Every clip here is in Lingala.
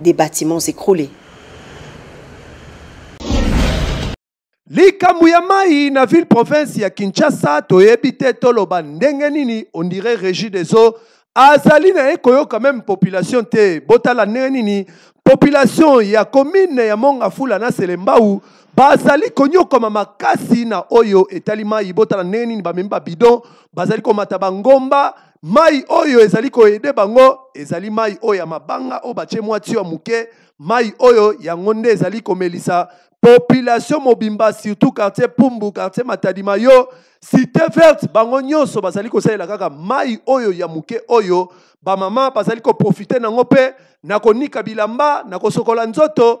des bâtiments écroulés. likambo ya mai na ville province ya kinshasa toyebi te toloba ndenge nini ondire régie des eaux azali na ye koyoka meme population te botala ndenge nini population ya commune ya mongafula na selembau bazali konyokwama makasi na oyo etali mai botala ndenge nini bamemi babidon bazali komata bangomba Mai oyo ezali koede bango ezali mai oyo ya mabanga oyo batie mwa tio ya moke, mai oyo yango nde ezali komelisa population mobimba surtout quartier Pumbu, quartier Matadi Mayo, Cité Verte, bango nyonso bazali kosalela kaka mai oyo ya moke oyo bamama bazali koprofite nango mpe na konika bilamba, na kosokola nzoto,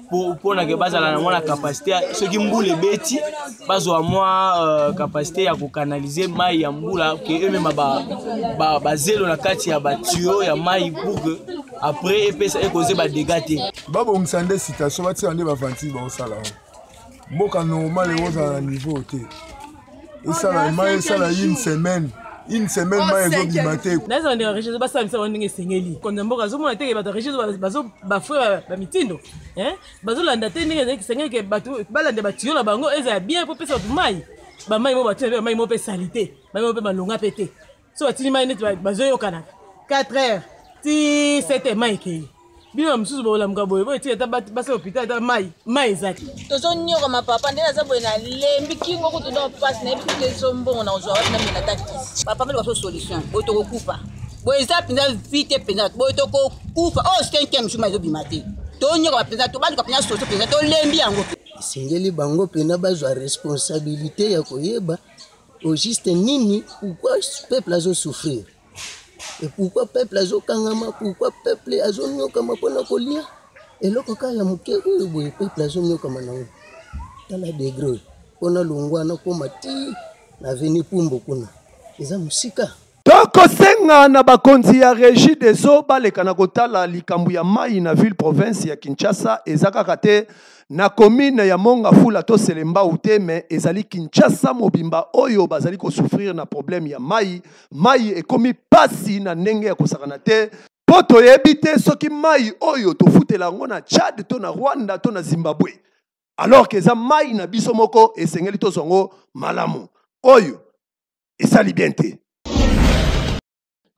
mpona ke bazala na mwa na kapasite soki mbula ebeti bazwa mwa euh, kapasite ya kokanalize mai ya mbula ke emema bazelo na kati ya batuyo ya mai pour ke après epesa ekozeba dega te babongisa nde citation batika nde bavantile baosala yango mboka normal yango ozala na niveau te esala mai esala une semaine une semaine oh, mai ezobima te naza bandeko ya regie basala misala wana ndenge esengeli konza mboka azomona te bato ya regie bafre bamitindo bazolanda te ndenge ezali kisengeli ke bato balanda batiyo na bango ezala bien mpo pesa bato mai bamai mo bato na mpe bamai mo mpe salite mai mo mpe malonga mpe te so batindi mai neti bazoyokana 4 heures ti 7 heures mai ekei bino na mosusu bolamuka boye boye ti ata basi lopital ata mai mai eza te tozonyoka mapapa nde naza boye nalembi kingo kutu nde mpasi nayebi kutu ezombongo na kozwa wapi namela ata kisi papa mpe libaso solution oyo tokokufa boye eza mpenza vi te mpenza boye tokokufa oyo oh, cinquième jour ma ezobima te tonyoka mpenza tobaluka mpenza soso mpenza tolembi yango esengeli bango mpenza bazwa responsabilité ya koyeba Au juste nini pourquoi peuple azo souffrir et pourquoi peuple azo kangama pourquoi peuple azo nyokama pona kolia eloko kaka ya moke oyo boye peuple azo nyokama nango tala degre oyo pona longwa nakoma ti na veni pumbo kuna eza mosika tokosenga na bakonzi ya regi des eaux baleka na kotala likambo ya mai na ville province ya kinshasa eza kaka te na komine ya mongafula to selembau te me ezali kinshasa mobimba oyo bazali kosouffrir na problème ya mai mai ekomi mpasi na ndenge ya kosakana te mpo toyebi te soki mai oyo tofutela yango na tchad to na rwanda to na zimbabwe alors ke eza mai na biso moko esengeli tozwa yango malamu oyo esali bien te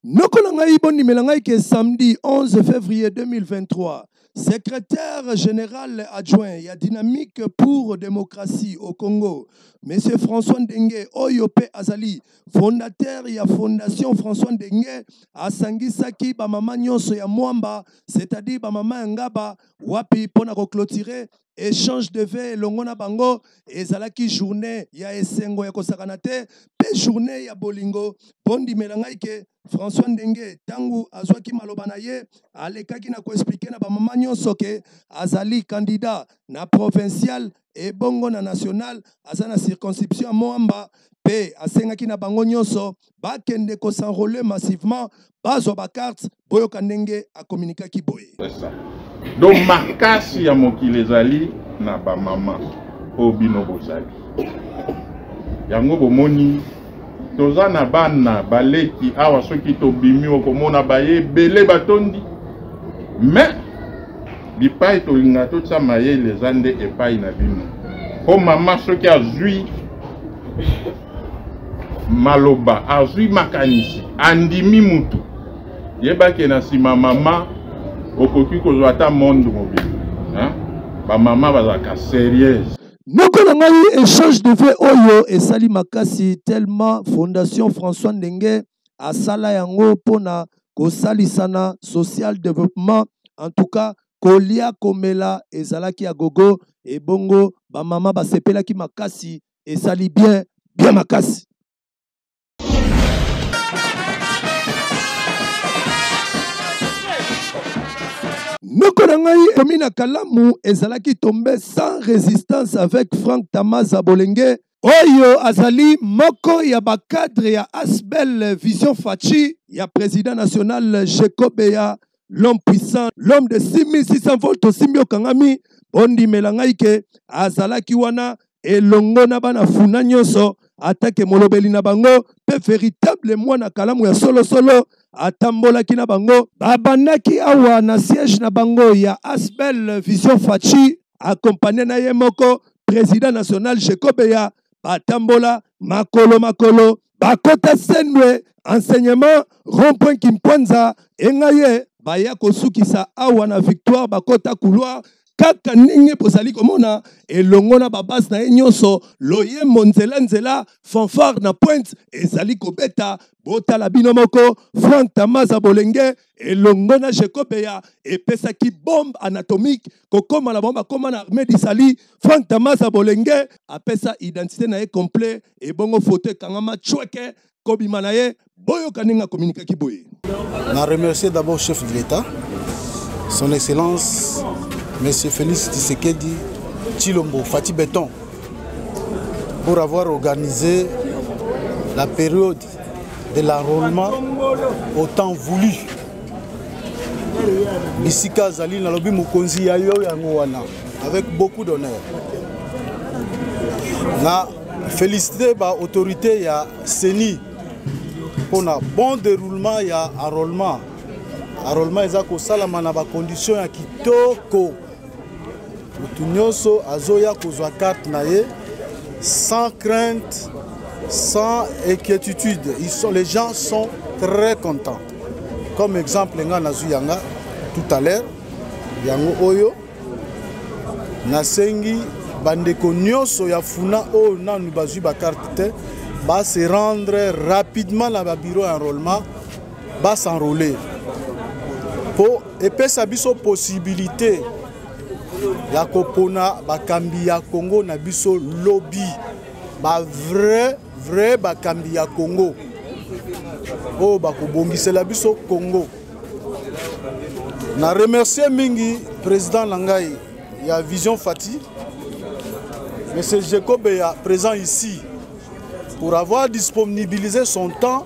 noko na ngai bondimela ngai ke samedi 11 février 2023 secrétaire général adjoint ya dynamique pour démocratie au congo monsieur françois ndenge oyo mpe azali fondateur ya fondation françois ndenge asangisaki bamama nyonso ya mwamba c'est-à-dire bamama ya ngaba wapi mpo na koclotire echange de ve elongo na bango ezalaki journée ya esengo ya kosakana te mpe journée ya bolingo bondimela ngai ke françois ndenge ntango azwaki maloba na ye alekaki na koexplike na bamama nyonso ke azali kandida na provincial ebongo na national aza na circonscription moamba mpe asengaki na bango nyonso bakende kosenrole massivement bazwa bakarte Boyoka ndenge a communiquaki boye. Donc makasi ya mokili ezali na ba mama oyo bino bozali. Yango bomoni toza na bana baleki awa soki tobimi okomona baye ebele batondi mais bipai tolinga totya mayele eza nde epai na bino mpo mama soki azwi maloba azwi makanisi andimi mutu yebake na nsima mama okoki kozwa ata monde mobili bamama bazalaka serieuse noko na ngai échange de vie oyo esali makasi tellement fondation françois ndenge asala yango mpo na kosalisana social développement en tout cas kolia komela ezalaki ya gogo ebongo bamama basepelaki makasi esali bien bien makasi noko na ngai komi na kalamu ezalaki tombe sans résistance avec frank tamaza bolenge oyo azali moko ya bacadre ya asbel vision faci ya président national jekobeya l'homme puissant l'homme de 6600 volts tosimbi okangami bondimela ngai ke azalaki wana elongo na bana funa nyonso atake molobeli na bango mpe veritable mwana kalamu ya solosolo atambolaki na bango babandaki awa na siège na bango ya asbel vision faci akompagne na ye moko président national jekobeya batambola makolo makolo bakota sendwe enseignement rond-point kimpwanza engaye baya kosukisa awa na victoire bakota couloir kaka ndenge bozali komona elongo na babase na ye nyonso loyembo nzela nzela fanfare na pointe ezali kobeta botala bino moko frank tamaza bolenge elongo na jekobeya epesaki bombe anatomique kokoma na bango bakoma na armée d'isali frank tamasa bolenge apesa identité na ye complet ebongo foto ekangama chweke kobima na ye boyoka ndenge akominikaki boye na remercier d'abord chef de l'état son excellence monsieur félix tisekedi chilombo fati beton pour avoir organisé la période de l'enrôlement au temps voulu bisika azali nalobi mokonzi ya yo yango wana avec beaucoup d'honneur na félicité baautorité ya ceni mpo na bon déroulement ya enrôlement enrôlement eza kosalama na bacondition ya kitoko motu nyonso azoya kozwa carte na ye sans crainte sans inquiétude Ils sont, les gens sont très contents comme exemple ngai nazwi yanga tout à l'heure yango oyo nasengi bandeko nyonso ya funa oyo nanu bazwi bakarte te ba se rendre rapidement na babiro ya enrôlement ba s'enrôler mpo epesa biso possibilité ya kopona bakambi ya Congo na biso lobi ba vrai vrai bakambi ya Congo oyo bakobongisela biso Congo na remercier mingi président na ngai ya Vision Fati Monsieur Jacob est présent ici pour avoir disponibilisé son temps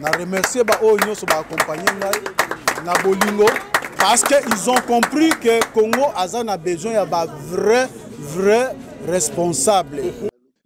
na remercie baoyo nyonso baakompagne ngai na bolingo parce que ils ont compris que congo aza na besoin ya ba vrai vrai responsable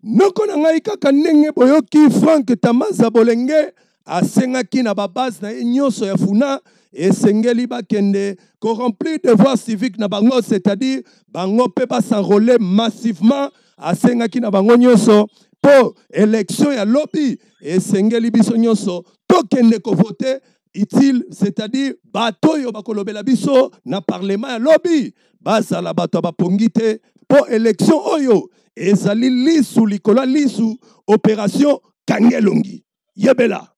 noko na ngai kaka ndenge boyoki frank tamaza bolenge asengaki na babase na ye nyonso ya funa esengeli bakende koremplir devoir civique na bango c'est-à-dire bango mpe basenrole massivement asengaki na bango nyonso mpo election ya lobi esengeli biso nyonso tokende kovote utile c'est-à-dire bato oyo bakolobela biso na parlement ya lobi bazala bato ya bapongi te mpo election oyo ezali lisu likolo ya lisu operation kangelongi yebela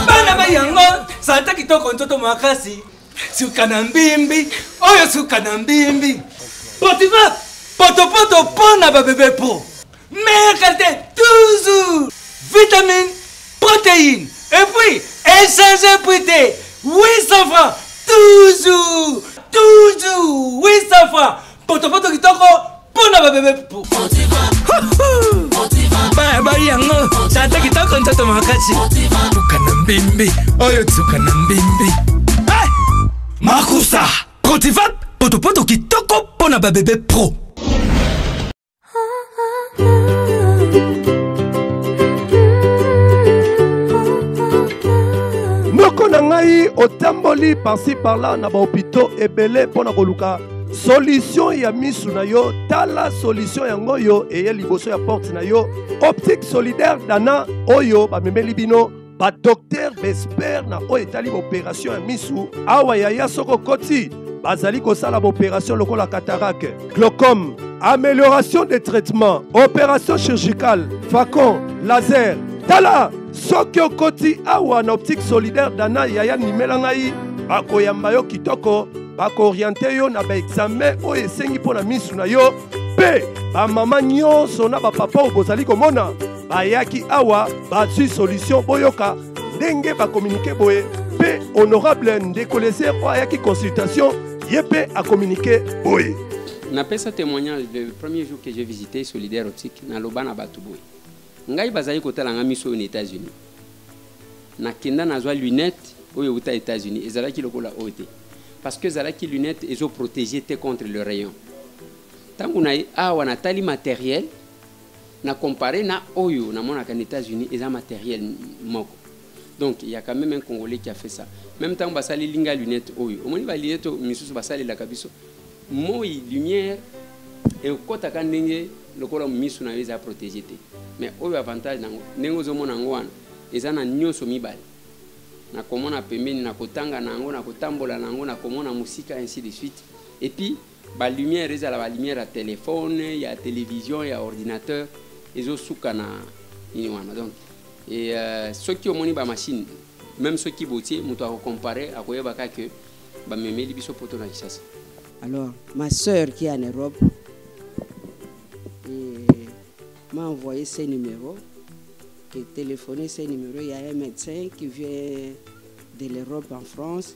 bana ba yango santa kitoko ntoto makasi suka na mbimbi oyo suka na mbimbi potifa potopoto mpo na babebe po meilleure qualité toujours vitamine protéine et puis échanger prix te 800 francs toujours toujours 800 francs potopoto kitoko mpo na babebe pupu bayabali yango tata kitoko ntoto makasi tuka na mbembe oyo tuka na mbembe eh! makusa cotivap potopoto kitoko mpo na babebe pro noko na ngai otamboli parci parla na bahopitau ebele mpo na koluka solution ya misu na yo tala solution yango oyo eye liboso ya porte na yo optique solidaire dana oyo bamemeli bino badoktere baespere na oyo etali baoperatio ya misu awa yaya soko koti bazali kosala baoperatio lokola catarake glaucome amélioration des traitements opération chirurgicale facon laser tala soki okoti awa na optique solidaire dana yaya nimela ngai bakoyamba yo kitoko bakooriente yo na baexame oyo esengi mpo na misu na yo mpe bamama nyonso na bapapa oyo bozali komona bayaki awa bazwi solution boyoka ndenge bakominike boye mpe honorable ndeko leser oyo ayaki consultation ye mpe akominike boye napesa témoignage le premier jour que j'ai visité solidaire optique naloba na bato boye ngai bazali kotala ngai miso oyo na états-unis nakenda nazwa lunette oyo euta états-unis ezalaki lokola oyo te parce que ezalaki lunette ezoprotege te contre le rayon ntango na ye awa natali matériel na compare na oyo namonaka na états-unis eza matériel moko donc il y a quand même un congolais qui a fait ça même ntango basaleli nga lunette oyo omoni balunette oyo misusu basalelaka biso moi lumière ekotaka ndenge lokola misu na yo eza protégé te mais oyo avantage nango ndenge ozomona yango wana eza na nyonso mibale na komona pembeni na kotanga na yango na kotambola na yango na komona mosika ainsi de suite epuis ba lumière ezala ba lumière ya telephone ya television ya ordinateur ezosuka na nini wana donc e, uh, soki omoni bamashine meme soki botie moto akocompare akoyeba kaka ke bamemeli biso poto na kisasa alors ma sœur qui est en europe m'a envoyé ce numéro qui est téléphoné ce numéro il y a un médecin qui vient de l'europe en france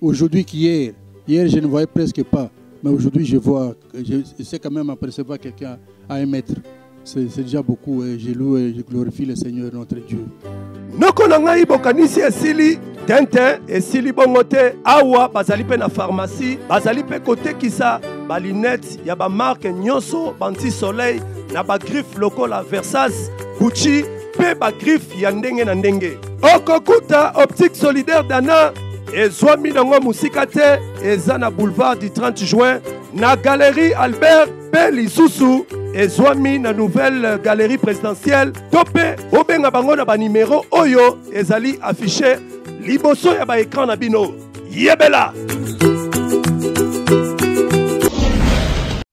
Aujourd'hui qu'hier, hier je ne voyais presque pas, mais aujourd'hui je vois, je sais quand même apercevoir quelqu'un à un mètre. C'est déjà beaucoup et je loue et je glorifie le Seigneur notre Dieu. noko na ngai bokanisi esili tenten esili bongo te awa bazali mpe na farmasi bazali mpe kotekisa balinete ya bamarke nyonso banti soleil na bagriffe lokola versas gucci mpe bagriffe ya ndenge na ndenge. Okokuta Optique Solidaire Dana ezwami nango mosika te, eza na boulevard du 30 juin na galerie Albert mpe lisusu ezwami na nouvelle galerie présidentielle to mpe bobenga bango na banimero oyo ezali affiche liboso ya baekran na bino yebela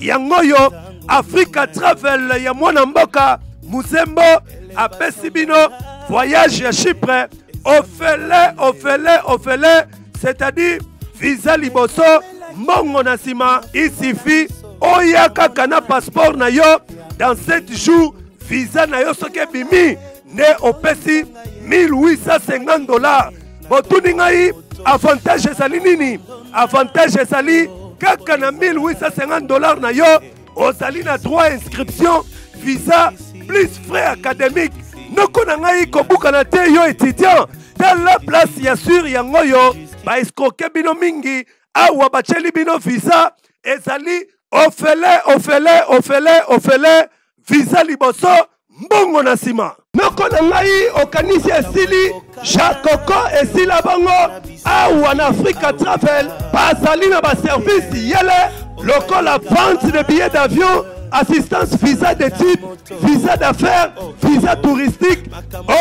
yango oyo africa travel ya mwana mboka muzembo apesi bino voyage ya chypre ofele ofele ofele c'est-à-dire visa liboso mbongo na nsima isifi oya kaka na passeport na yo dans 7 jours visa na yo soki ebimi nde opesi 1850 dollars botuni ngai avantage ezali nini avantage ezali kaka na 1850 dollars na yo ozali na droit inscription visa plus frais académique noko na ngai kobukana te yo étudiant tala place ya sur yango oyo baescroke bino mingi awa batyeli bino visa ezali ofele ofele ofele ofele visa liboso mbongo na nsima noko na ngai okanisi esili jakoko esila bango awa na afrika travel bazali na baservice yele lokola vente de billet d'avion assistance visa d'étude visa d'affaires visa touristique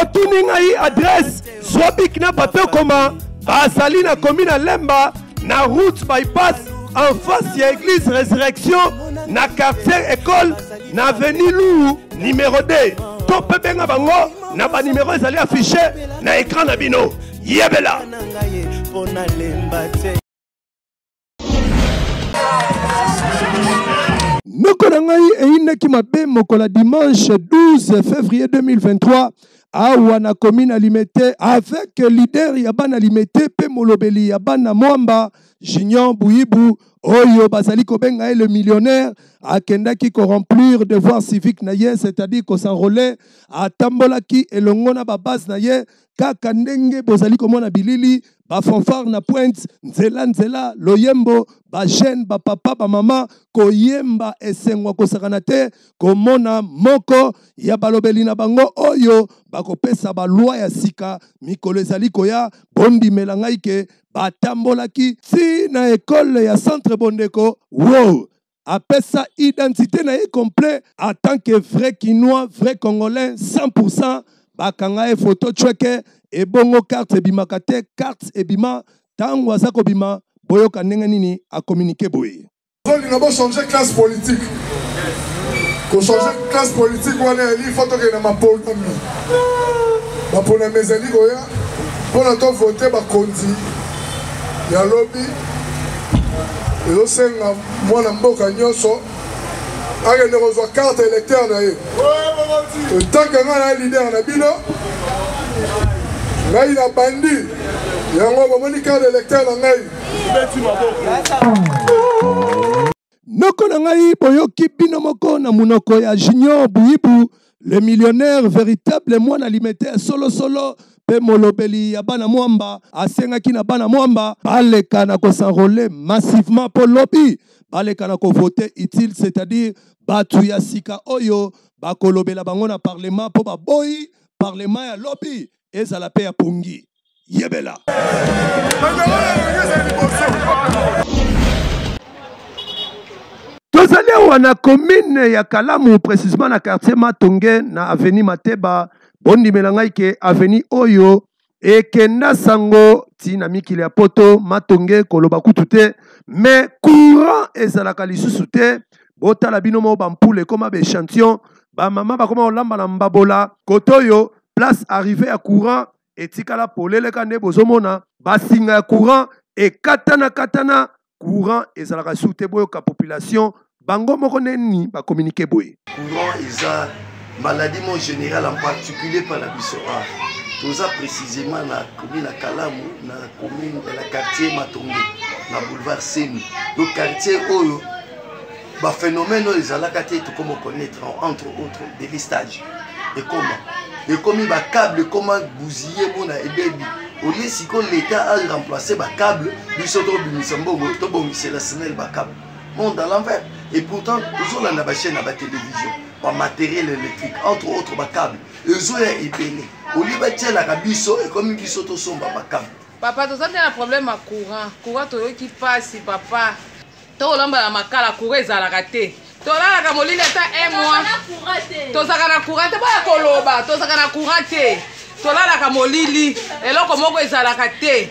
otuni ngai adresse zwa bik na bato ekoma bazali na komi na lemba na route bypass en face ya église résurrection na quartier école na avenue lou numéro 2 to mpe benga bango na banimero ezali affiche na écran na bino yebela noko na ngai eyinaki mabe mokola dimanche 12 février 2023 awa na commune ya limete avec leader ya bana limete mpe molobeli ya bana mwamba junior buibu oyo bazali kobenga ye le millionnaire akendaki koremplir devoir civique na ye c'est-à-dire kosenrole atambolaki elongo na babase na ye kaka ndenge bozali komona bilili bafanfare na pointe nzela nzela loyembo bajeune bapapa bamama koyemba esengo ya kosakana te komona moko ya balobeli na bango oyo bakopesa balwa ya sika mikolo ezali koya bondimela ngai ke batambolaki ti na ekole ya centre bondeko wo apesa identité na ye complet en tant que vrai kinois vrai congolais 100% bakanga ye photo chweke ebongo carte ebimaka te carte ebima ntango aza kobima boyoka ndenge nini akominike boye tolinga bochange classe politique kochange classe politique wana yali fo tokende na maponami maponami ezali koya mpo na tovote bakonzi ya lobi ezosenga mwana mboka nyonso akende kozwa carte électeur na ye etanke ngai na leader na bino ngai na bandi yango bomoni carte électeur na ngai Noko na ngai boyoki bino moko na munoko ya Junior Buibu le millionnaire veritable mwana limete ya solo solo pe molobeli ya bana mwamba asengaki na bana mwamba baleka na ko s'enroler massivement po lobi baleka na ko voter utile c'est-à-dire batu ya sika oyo bakolobela bango na parlement po baboyi parlement ya lobi ezala pe ya pongi. yebela tozali awa na commune ya kalamu précisement na quartier matonge na avenue mateba bondimela ngai ke avenue oyo ekenda sango ti na mikili ya poto matonge koloba kutu te mais courant ezalaka lisusu te botala bino moko bampule ekoma baechantillon bamama bakoma kolamba na mbabola kote oyo place arrive ya courant etikala polele ka nde bozomona basinga ya courant ekatana katana courant ezalaka su te boyoka population bango moko neni bakominike boye courant eza maladie mo général en particulier mpa na biso a toza précisément na komi na kalamu na commune na quartier matongo na boulevard seni donc quartier oyo baphénomène oyo ezalaka te tokoma connaître entre autres délestage ekoma ekomi bacable ekoma buziye mona ebebi olie sikoyo leta aremplace bacable biso tobimisa mbongo tobongisela snel bacable monde à l'envers et pourtant tozolanda bachaîne ya batélévision bamateriel électrique entre autres bacable ezoya ebele olie batielaka biso ekomi biso tosomba bacable papa toza nde na problème ya courant courant toyoki mpasi papa tokolomba na makala courant ezalaka te tolalaka molili ata un mois tozalaka na courant te boya koloba tozalaka na courant te tolalaka molili eloko moko ezalaka te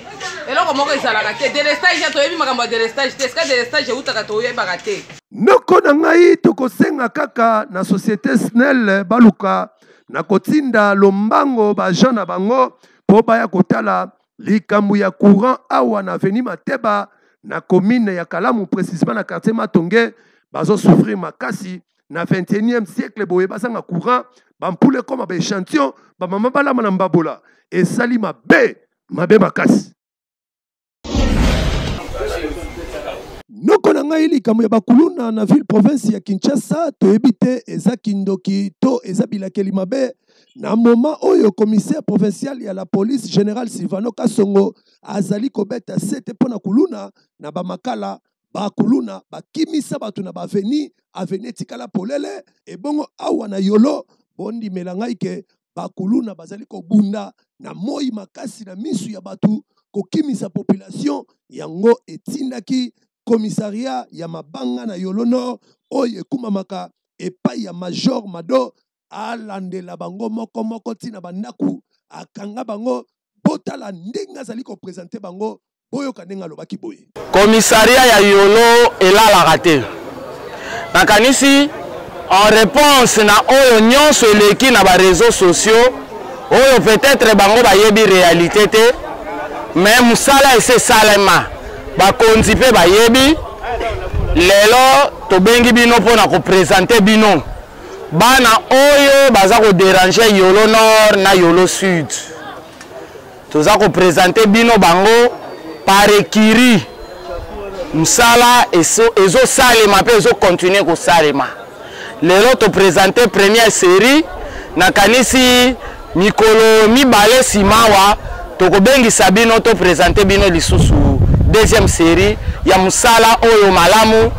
eloko moko ezalaka te delestage ya toyebi makambo ya delestage te esika delestage eutaka toyebaka te noko na ngai tokosenga kaka na société snel baluka na kotinda lombango baagent na bango mpo baya kotala Likambo ya courant awa na avenue Mateba na commune ya Kalamu precisement na quartier Matonge bazo souffrir makasi na 21e siècle boye bazanga courant bampula ekoma baechantillon bamama balama na mbabola esali mabe mabe makasi noko na ngai likambo ya bakuluna na ville province ya kinshasa toyebi te eza kindoki to eza bilakeli mabe na moma oyo commissaire provincial ya la police général silvano kasongo azali kobeta sete mpo na kuluna na bamakala bakuluna bakimisa bato na baveni aveni etikala polele ebongo awa na yolo bondimela ngai ke bakuluna bazali kobunda na moi makasi na misu ya bato kokimisa population yango etindaki komisaria ya mabanga na yolo nord oyo ekumamaka epai ya major mado alandela bango moko moko ntina bandako akanga bango botala ndenge azali kopresente bango boyoka ndenge alobaki boye komisaria ya yolo elalaka te nakanisi en réponse na oyo nyonso eleki na bareseau sociaux oyo peut-être bango bayebi réalité te mais mosala esi esalema bakonzi mpe bayebi lelo tobengi bino mpo na kopresente bino bana oyo baza ko déranger yolo nord na yolo sud toza ko présenter bino bango par écurie mosala ezosalema mpe ezokontinue kosalema lelo topresente première série nakanisi mikolo mibale nsima awa tokobengisa bino topresente bino lisusu deuxième série ya mosala oyo malamu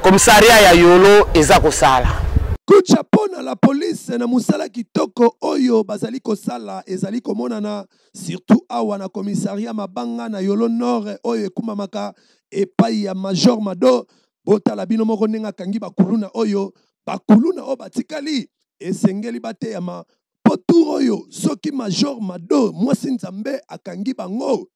Commissariat ya Yolo eza kosala. Kucha mpo na la police na mosala kitoko oyo bazali kosala ezali komonana surtout awa na komisaria mabanga na yolo nord oyo ekumbamaka epai ya major mado botala bino moko ndenge akangi bakuluna oyo bakuluna oyo batikali esengeli bateyama mpo tour oyo soki major mado mwasi nzambe akangi bango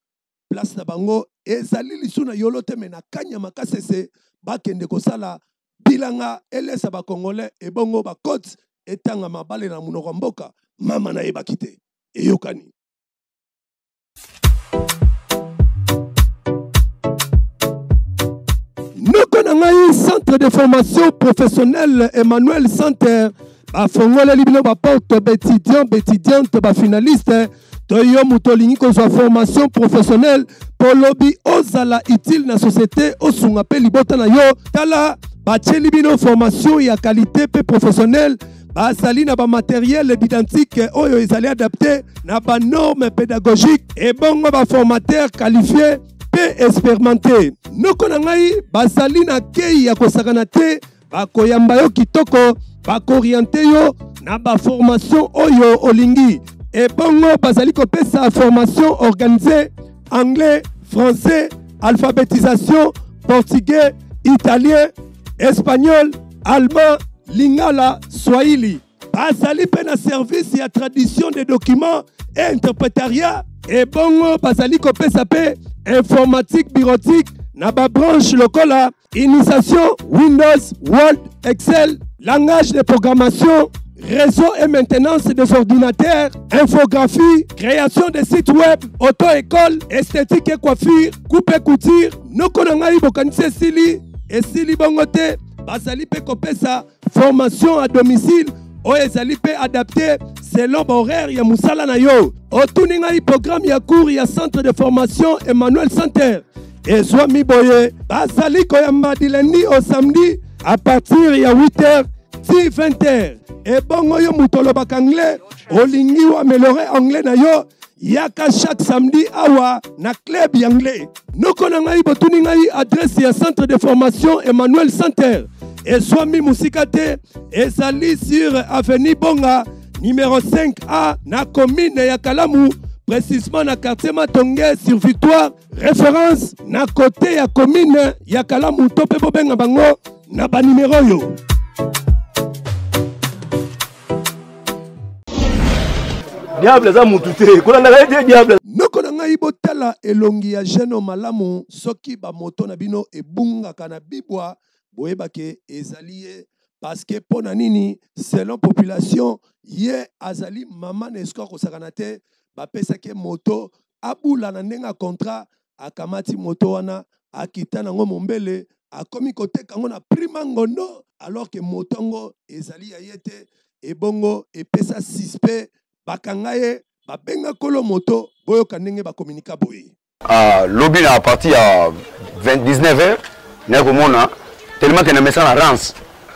place na bango ezali lisu na yolo te me na kanya makasi ese bakende kosala bilanga elesa bakongole ebongo bacote etanga mabale na monoko ya mboka mama nayebaki te eyokani noko na ngai centre de formation professionnelle emmanuel center bafongoleli bino baporte baétudiant baétudiante bafinaliste to yo moto olingi kozwa formation professionnelle mpo lobi ozala utile na société osunga mpe libota na yo tala batieli bino formation ya qualité mpe professionnelle bazali na bamateriele didantike oyo ezali adapte na banorme pédagogique ebongo baformateur qualifie mpe experimente noko na ngai bazali na kei ya kosakana te bakoyamba yo kitoko bakoriente yo na baformation oyo olingi ebongo bazali kopesa formation organise anglais français alphabetisation portugais italien espagnol allemand lingala swahili bazali mpe na service ya tradition des documents et interprétariat ebongo bazali kopesa mpe informatique bureautique na babranche lokola Initiation, Windows, Word, Excel, langage de programmation, réseau et maintenance des ordinateurs, infographie, création de sites web, auto-école, esthétique et coiffure, coupe et couture, noko na ngai bokanisi esili esili bongo te bazali mpe kopesa formation à domicile oyo ezali mpe adapte selon bahoraire ya mosala na yo otuni ngai programme ya cour ya centre de formation emmanuel center ezwami boye bazali koyamba dilendi au samedi à partir ya 8 heures ti 20 heures ebongo yo moto olobaka anglais olingi oameliore anglais na yo yaka chaque samedi awa na club ya anglais noko na ngai botuni ngai adrese ya centre de formation emmanuel center ezwami mosika te ezali sur avenue bonga numero 5a na commune ya kalamu précisément na quartier matonge sur victoire référence na côté ya commune ya kalamu to mpe bobenga bango na banimero oyo diable aza mutu te kolandaka ye te diable noko na ngai botala elongi ya geno malamu soki bamoto na bino ebungaka na bibwa boyebake ezali ye parceke mpo na nini selon population ye azali mama na esiko akosakana te bapesaki ye moto abula na ndenge ya contrat akamati moto wana akita nango mombele akomi koteka yango na prix mangondo alors que moto yango ezali ya ye te ebongo epesa suspect bakanga ye babenga kolo moto boyoka ndenge bakominika boye ah, lobi na parti ya 19 heures naye komona tellement ke na mesana rance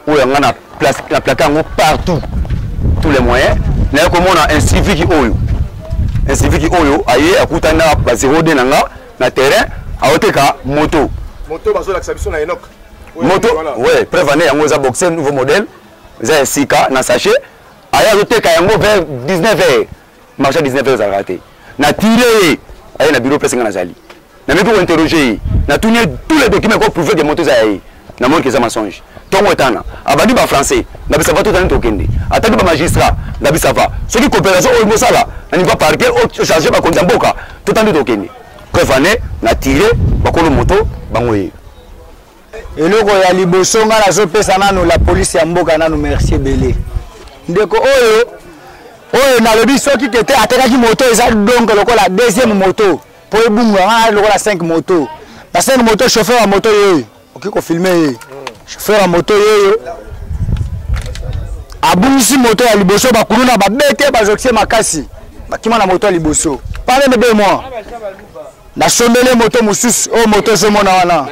oyo yanga na place na plaquer yango partout tous les moyens naye komona un civique oyo un civique oyo aye akutani na ba 02 na nga na terrain aoteka moto moto bazolakisa biso na enok moto ouais preuve année yango eza boxer nouveau modèle eza ya sika na sachet aye azoteka yango vers 19 heures marché 19 heures ezalaka te natile ye aye na biro pese nga nazali nameki kointerroge ye natuni ye tous les documents ekoprouve ke moto eza ya ye namoni keza mensonge ntongo etana abandi bafrançais ngabisa bato otani tokende ataki bamagistrat ngabisa va soki coopération oyo mosala na niveau parquet ocharge bakonzi ya mboka totandi tokende preuve ane na tire bakolo moto bango ye eloko ya liboso ngai nazopesa nanu la polisi ya mboka nanu merci ebele ndeko oyo oyo nalobi soki kete atekaki moto eza dongo lokola deuxième moto mpo ebunga ngai lokola 5 moto na 5 moto chauffeur ya moto yeyo okoki kofilme ye chauffeur ya moto yeyo abungisi moto ya liboso bakuluna babete bazokisi makasi bakima na moto ya liboso pale nde be moi nasombeli moto mosusu oyo moto ezomona wana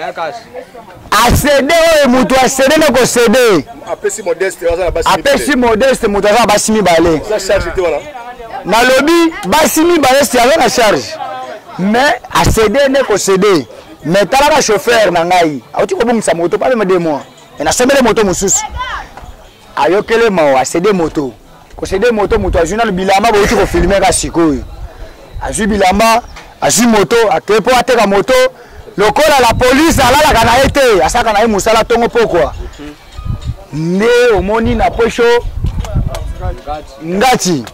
asede oyo moto asede na kosede apesi modeste moto aza na basi mibale nalobi basi mibale si aza na charge mais asede nde kosede mais talaka chauffeur na ngai auti kobongisa moto pamema de moi nasombele moto mosusu ayokele mawa asede moto kosede moto moto azwi nano bilamba bouti kofilme ka sikoyo azwi bilamba azwi moto akei mpo ateka moto lokola la polise alalaka na ye te asalaka na ye mosala ntongo pokwa nde omoni na posho ngati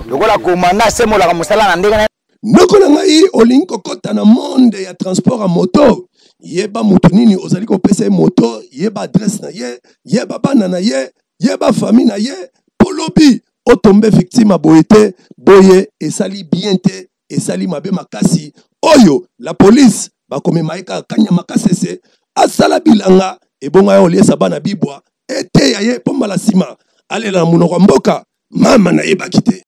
lokola komanda asembolaka mosala na ndenge Noko na ngai, olingi kokota na monde ya transport ya moto, yeba moto nini ozali kopesa ye moto, yeba adresse na ye, yeba bana na ye, yeba famille na ye, mpo lobi otombe victime boye te boye, esali bien te, esali mabe makasi. Oyo la police bakomema ye kaka kanya makasese, asala bilanga ebonga ya oliesa bana bibwa eteya ye mpo mbala nsima alela na monoko ya mboka mama nayebaki te.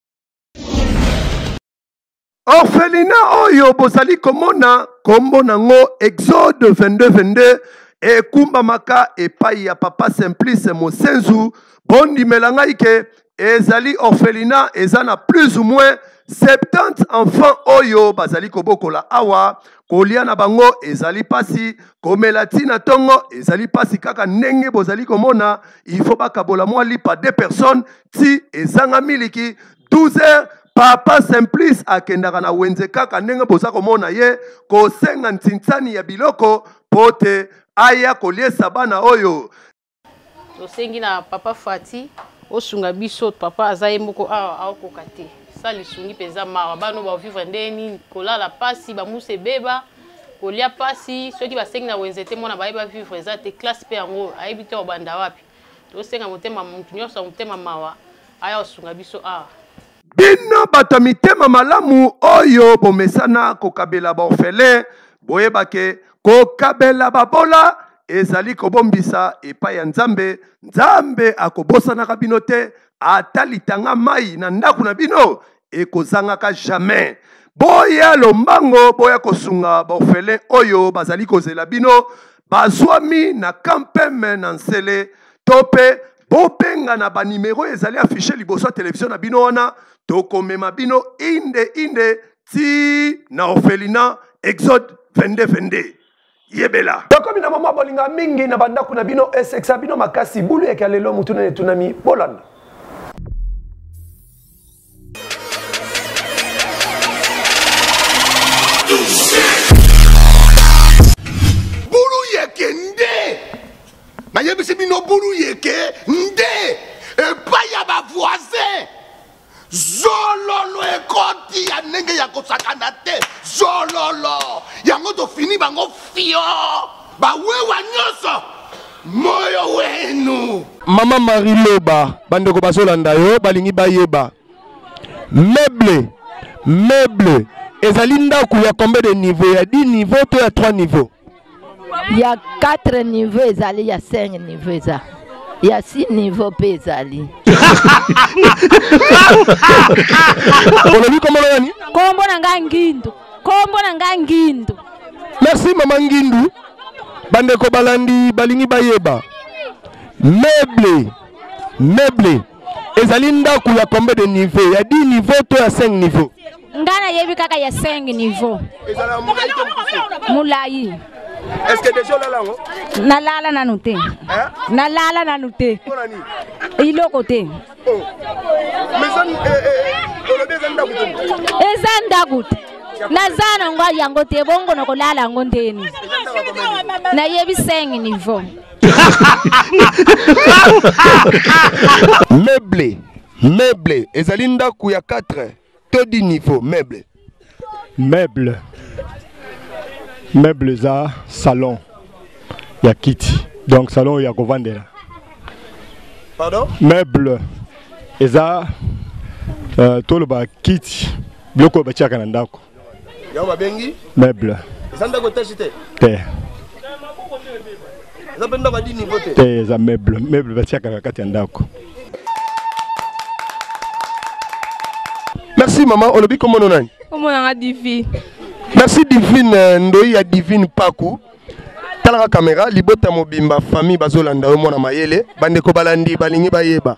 orphelina oyo bozali komona kombo nango exode 2222 ekumbamaka epai ya papa simplice mosenzu bondimela ngai ke ezali orphelina eza na plus ou moins 70 enfants oyo bazali kobokola awa kolia na bango ezali mpasi komela ti na ntongo ezali mpasi kaka ndenge bozali komona il faut bakabola mwa lipa de personnes ti ezanga miliki 12 heures papa simplice akendaka na wenze kaka ndenge boza komona ye kosenga ntinsani ya biloko mpo te aya koliesa bana oyo tosengi na papa fati osunga biso papa aza ye moko awa aokoka te sa lisungi mpenza mawa bana oyo bavivre ndenge nini kolala mpasi bamusa ebeba kolia mpasi soki basengi na wenze te mwana baye bavivre eza te classe mpe yango ayebi te obanda wapi tosenga motema moto nyonso ya motema mawa aya kosunga biso awa bino bato ya mitema malamu oyo bomesana kokabela baorfele boyebake kokabela babola ezali kobombisa epai ya nzambe nzambe akobosanaka bino te ata litanga mai na ndako na bino ekozangaka jamais boya lombango boya kosunga baorphelin oyo bazali kozela bino bazwami na kampeme na nsele to mpe bobenga na banimero ezali afishe liboso ya televizio na bino wana tokomema bino inde inde ti na orphelina exode 22 22 yebela tokomi na mama bolinga mingi na bandako na bino esekisa bino makasi bulu yeke ya lelo motuna etunami bolanda bulu yeke nde nayebisi bino bulu yeke nde epai ya bavoisin zololo ekoti ya ndenge ya kosakana te zololo yango tofini bango fio bawewa nyonso moyo wenu mama marie loba bandeko bazolanda yo balingi bayeba meuble meuble ezali ndako ya combien de niveau ya 10 niveau to ya 3 niveau ya 4 niveau ezali ya 5 niveau eza ya 6 niveau mpe ezali olobi kombo na nani kombo na ngai ngindu kombo na ngai ngindu merci mama ngindu bandeko balandi balingi bayeba meuble meuble ezali ndako ya combien de niveau ya 10 niveau to ya 5 niveau nga nayebi kaka ya 5 niveau ezala molai to mokuse molai est ce que deja olala yango nalala nanu te Hein? nalala nanu te mpo na nini iloko te Oh. mais eza eh, eh, eh, olobi eza ndako te eza ndako te naza nango yango te bongo nakolala yango ndeni eza ndako ya komema nayebi 5 niveau meuble meuble ezali ndako ya 4 to di niveau meuble meuble meuble eza salon ya kiti donc salon ya kovandela pardon meuble eza uh, toloba kiti biloko oyo batiaka na ndako Yango babengi meuble. Eza ndako etashi te? Te. Eza mpe ndako ya dini niveau te? Te, eza meuble. Meuble batiaka na kati ya ndako. Merci maman, olobi kombo no nani? Kombo na nga Divine. Merci Divine euh, Ndoyi ya Divine Paku. Talaka kamera libota mobimba famille bazolanda yo mwana mayele bandeko balandi balingi bayeba.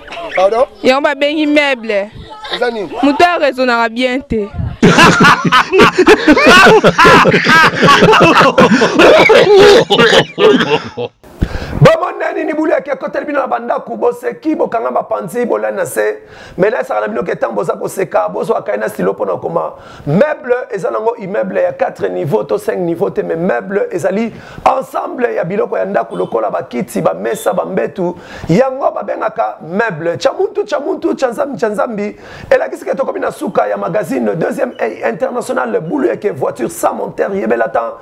pardon yango babengi meuble eza nini moto ya raisonnaka bien te bomona nini bulu yaki ekoteli bino na bandako boseki bokanga mapanzi bolani na se me nayesaka na bino ke ntango boza koseka bozwaka ye na silo mpo na okoma Meuble eza nango immeuble ya 4 niveau to 5 niveau te mais meuble ezali ensemble ya biloko ya ndako lokola bakiti bamesa bambetu yango babengaka meuble cha muntu cha muntu cha nzambi cha nzambi elakisi ke tokomi na suka ya magazine deuxième international bulu eke voiture sans monteur yebela temps